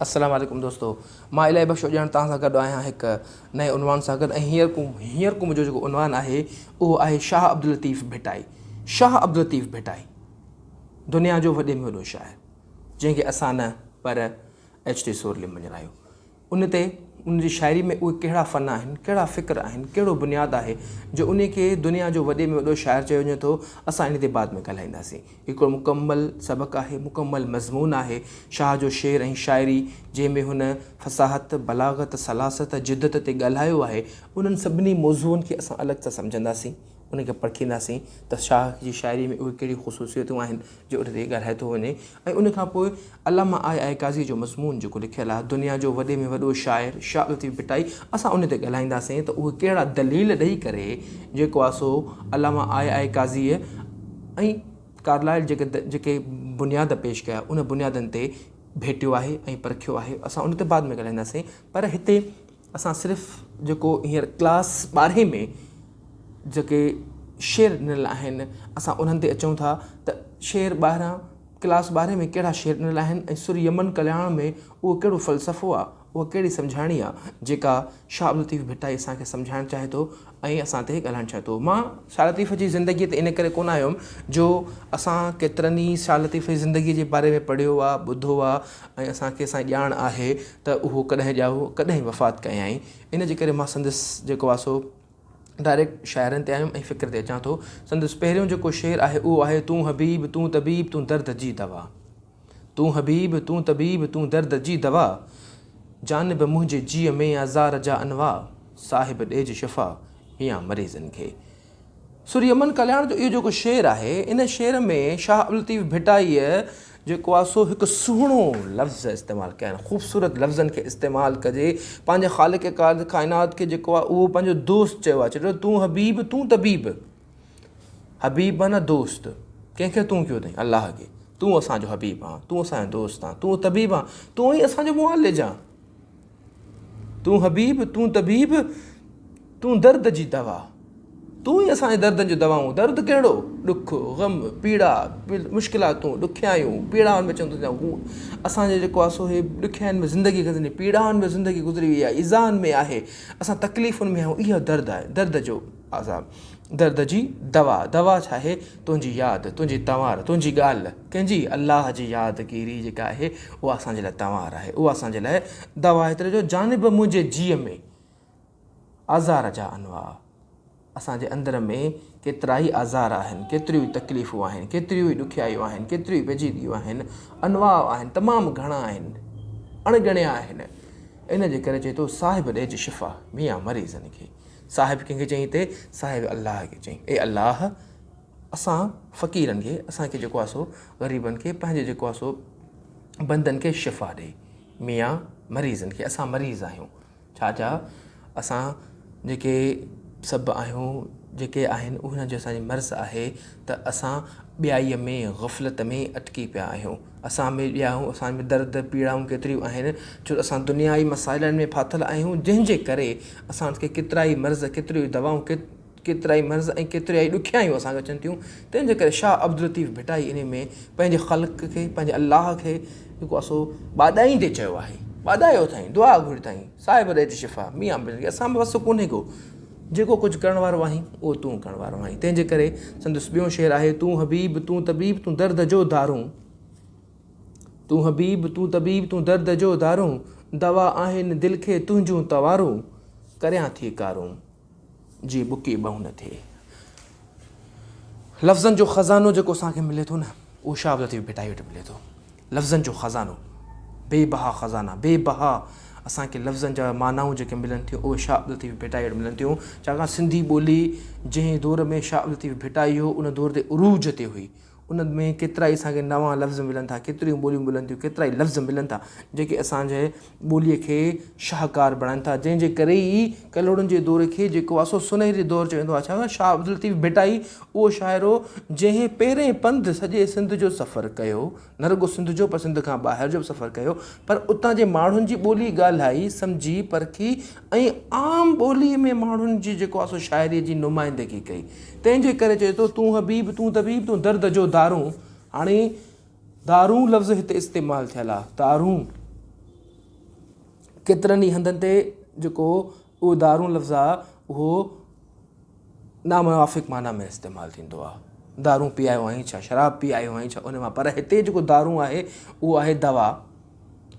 السلام عليڪم دوستو مان الاهي بخش اڄاڻ توهان سان گڏ آهيان هڪ نئين عنوان سان گڏ ۽ هينئر ڪو هينئر ڪو منهنجو جيڪو عنوان آهي اهو آهي شاهه عبداللطيف ڀٽائي شاهه عبداللطيف ڀٽائي دنيا جو وڏي ۾ وڏو شاعر جنهن کي اسان نه پر ايڇ ٽي سورلي مڃرايو ان تي ان جي شاعري ۾ اهي ڪهڙا فن آهن، ڪهڙا فڪر آهن، ڪهڙو بنياد آهي جو انهي کي دنيا جو وڏي ۾ وڏو شاعر چيو وڃي ٿو، اسان انهي تي بعد ۾ ڳالهائينداسين. هي هڪڙو مڪمل سبق آهي، مڪمل مضمون آهي، شاهه جو شعر ۽ شاعري جنهن ۾ هن فصاحت، بلاغت، سلاست، جدت تي ڳالهايو آهي، انهن سڀني موضوعن کي اسان الڳ سان سمجهنداسين، انهن کي پرکينداسين ته شاهه جي شاعري ۾ اهي ڪهڙي خصوصيتون آهن جو ان تي ڳالهائي ٿو وڃي ۽ ان کان پوء علامه آء آء قاضيء جو مضمون جيڪو لکيل آهي دنيا جو وڏي ۾ وڏو شاعر شاهه لطيف ڀٽائي اسان ان تي ڳالهائينداسين ته اهي ڪهڙا دليل ڏئي ڪري جيڪو آهي سو علامه آء آء قاضيء ۽ ڪارلائل جيڪي جيڪي بنياد پيش ڪيا ان بنيادن تي ڀيٽيو آهي ۽ پرکيو آهي اسان ان تي بعد ۾ ڳالهائينداسين پر هتي اسان صرف جيڪو هينئر ڪلاس ٻارهين ۾ جيڪي شعر ڏنل آهن اسان انهن تي اچون ٿا ته شعر ٻارهن ڪلاس ٻارهين ۾ ڪهڙا شعر ڏنل آهن ۽ سر يمن ڪلياڻ ۾ اهو ڪهڙو فلسفو آهي اها ڪهڙي سمجهاڻي آهي جيڪا شاهه عبدالطيف ڀٽائي اسان کي سمجهائڻ چاهي ٿو ائين اسان تي ڳالهائڻ چاهي ٿو. مان شاهه لطيف جي زندگيء تي ان ڪري ڪونه آيم جو اسان ڪيترن ئي شاهه لطيف جي زندگيء جي باري ۾ پڙهيو آ، ٻڌو آ ۽ اسان کي سائين ڄاڻ آهي ته اهو ڪڏهن ڄائو، ڪڏهن وفات ڪيائين. ان جي ڪري مان سندس جيڪو آ سو ڊائريڪٽ شاعرن تي آيم ۽ فڪر تي اچان ٿو. سندس پهريون جيڪو شعر آهي اهو آهي، تون حبيب، تون طبيب، تون درد جي دوا. تون حبيب تون طبيب تون درد جي دوا جانب منهنجي جيء ۾ آزار جا انواع صاحب ڏيج شفا ميان مريضن کي. سوري امن ڪلياڻ جو اهو جيڪو شعر آهي ان شعر ۾ شاهه عبداللطيف ڀٽائيء جيڪو آهي سو هڪ سهڻو لفظ استعمال ڪيا آهن خوبصورت لفظن کي استعمال ڪجي پنهنجي خالق ڪائنات کي جيڪو آهي اهو پنهنجو دوست چيو آهي چي ٿو تون حبيب تون طبيب حبيب نه دوست، ڪنهن کي تون ڪيو اٿئي؟ الله کي، تون اسان جو حبيب آن، تون اسان جو دوست آن، تون طبيب آن، تون ئي اسان جو معالج آن. تون حبيب، تون طبيب، تون درد جي دوا، تون ئي اسان جي دردن جو دوائون، درد ڪهڙو؟ ڏک، غم، پيڙا، مشڪلاتون، ڏکيائيون، پيڙائن ۾ چون ٿا هو اسان جو جيڪو آهي سو هي ڏکيائين ۾ زندگي گذري، پيڙائن ۾ زندگي گذري وئي آهي، ايذائن ۾ آهي، اسان تڪليفن ۾ آهيون اهو درد آهي، درد جو. عذاب درد جي دوا دوا ڇا آهي تنهنجي ياد تنهنجي تنوار تنهنجي ڳالهه ڪنهن جي الله جي ياد گيري جيڪا آهي اها اسان جي لاء تنوار آهي اها اسان جي لاء دوا آهي تنهنجو جانب منهنجي جيء ۾ آزار جا انواع اسان جي اندر ۾ ڪيترا ئي آزار آهن ڪيتريون ئي تڪليفون آهن ڪيتريون ئي ڏکيائيون آهن ڪيتريون ئي پيچيدگيون آهن انواع آهن تمام گهڻا آهن اڻ ڳڻيا آهن ان جي ڪري چئي ٿو صاحب ڏيج شفا ميان مريضن کي صاحب ڪنهن کي چئي ٿي؟ صاحب الله کي چئي. اي الله اسان فقيرن کي اسان کي جيڪو آهي سو غريبن کي پنهنجي جيڪو آهي سو بندن کي شفا ڏي. ميان مريضن کي اسان مريض آهيون. ڇا جا اسان جيڪي سڀ آهيون جيڪي آهن اهن جو اسان جي مرض آهي ته اسان ٻيائي ۾ غفلت ۾ اٽڪي پيا آهيون. اسان ۾ ڏياهون، اسان ۾ درد، پيڙائون ڪيتريون آهن، ڇو ته اسان دنيائي مسائلن ۾ ڦاٿل آهيون، جنهن جي ڪري اسان کي ڪيترائي مرض، ڪيتريون دوائون، ڪيترائي مرض ۽ ڪيتريائي ڏکيائيون اسان کي اچن ٿيون، تنهن جي ڪري شاهه عبداللطيف ڀٽائي انهي ۾ پنهنجي خلق کي، پنهنجي الله کي جيڪو آهي سو ٻاڏائيندي چيو آهي، ٻاڏايو اٿائين، دعا گهري اٿائين، صاحب ڏيج شفا، ميان مير، اسان ۾ وس ڪونهي ڪو، جيڪو ڪجهه ڪرڻ وارو آهين، اهو تون ڪرڻ وارو آهين. تنهن جي ڪري سندس ٻيو شعر آهي، تون حبيب، تون طبيب، تون درد جو دارون. تون حبيب، تون طبيب، تون درد جو دارون، دوا آهن دل کي تنهنجون توارون، ڪريان ٿي ڪارون، جي ٻڪي ٻهون نه ٿئي. لفظن جو خزانو جيڪو اسان کي ملي ٿو نه، اهو شاهه عبدالطيف ڀٽائي وٽ ملي ٿو. لفظن جو خزانو، بي بها خزانا، بي بها اسان کي لفظن جا معنائون جيڪي ملن ٿيون اهي شاهه عبدالطيف ڀٽائي وٽ ملن ٿيون، ڇاڪاڻ سنڌي ٻولي جنهن دور ۾ شاهه عبدالطيف ڀٽائي هو ان دور تي عروج تي هئي، ان ۾ ڪيترائي اسان کي نوان لفظ ملن ٿا، ڪيتريون ٻوليون ملن ٿيون، ڪيترائي لفظ ملن ٿا جيڪي اسان جي ٻوليء کي شاهڪار بڻائين ٿا، جنهن جي ڪري ئي ڪلهوڙن جي دور کي جيڪو آسو سنهري دور چئي ويندو آهي. ڇاڪاڻ ته شاهه عبداللطيف ڀٽائي اهو شاعر هو، جنهن پهرئين پنڌ سڄي سنڌ جو سفر ڪيو، نه رڳو سنڌ جو پر سنڌ کان ٻاهر جو به سفر ڪيو، پر اتان جي ماڻهن جي ٻولي ڳالهائي، سمجهي، پرکي ۽ عام ٻوليء ۾ ماڻهن جي جيڪو آسو شاعريء جي نمائندگي ڪئي. تنهن جي ڪري چئي ٿو، تون حبيب، تون طبيب، تون درد جو دارون. هاڻي. دارون لفظ هتي استعمال ٿيل آ دارون ڪيترن ئي هنڌن تي جيڪو اهو دارون لفظ آ اهو ناموافق معنيٰ ۾ استعمال ٿيندو آ دارون پيايو آهين ڇا شراب پي آيو آهين ڇا ان مان پر هتي جيڪو دارون آهي اهو آهي دوا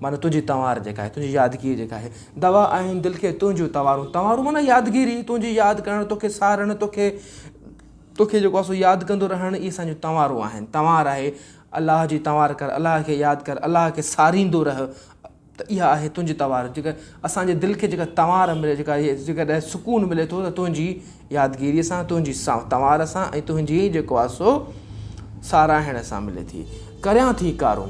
معنيٰ تنهنجي تنوار جيڪا آهي، تنهنجي يادگيري جيڪا آهي. دوا آهن دل کي تنهنجون تنوارون. تنوارون معنيٰ يادگيري، تنهنجي ياد ڪرڻ، توکي سارڻ، توکي توکي جيڪو آهي سو ياد ڪندو رهڻ اهي اسان جون تنوارون آهن. تنوار آهي الله جي تنوار ڪر، الله کي ياد ڪر، الله کي ساريندو رهه ته اها آهي تنهنجي تنوار. جيڪا اسان جي دل کي جيڪا تنوار ملي، جيڪا جيڪڏهن سڪون ملي ٿو ته تنهنجي يادگيري سان، تنهنجي تنوار سان ۽ تنهنجي جيڪو آهي سو ساراهڻ سان ملي ٿي. ڪريان ٿي ڪارون.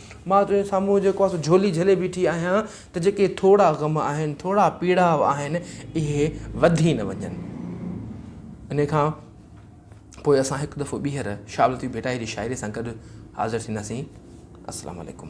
مان تنهنجي سامهون جيڪو آهي سو جهولي جهلي بيٺي آهيان ته جيڪي ٿورا غم آهن ٿورا پيڙاء آهن اهي وڌي نه وڃن ان کان پوء اسان هڪ دفعو ٻيهر شاولتي ڀٽائي جي شاعري سان گڏ حاضر ٿينداسين السلام عليڪم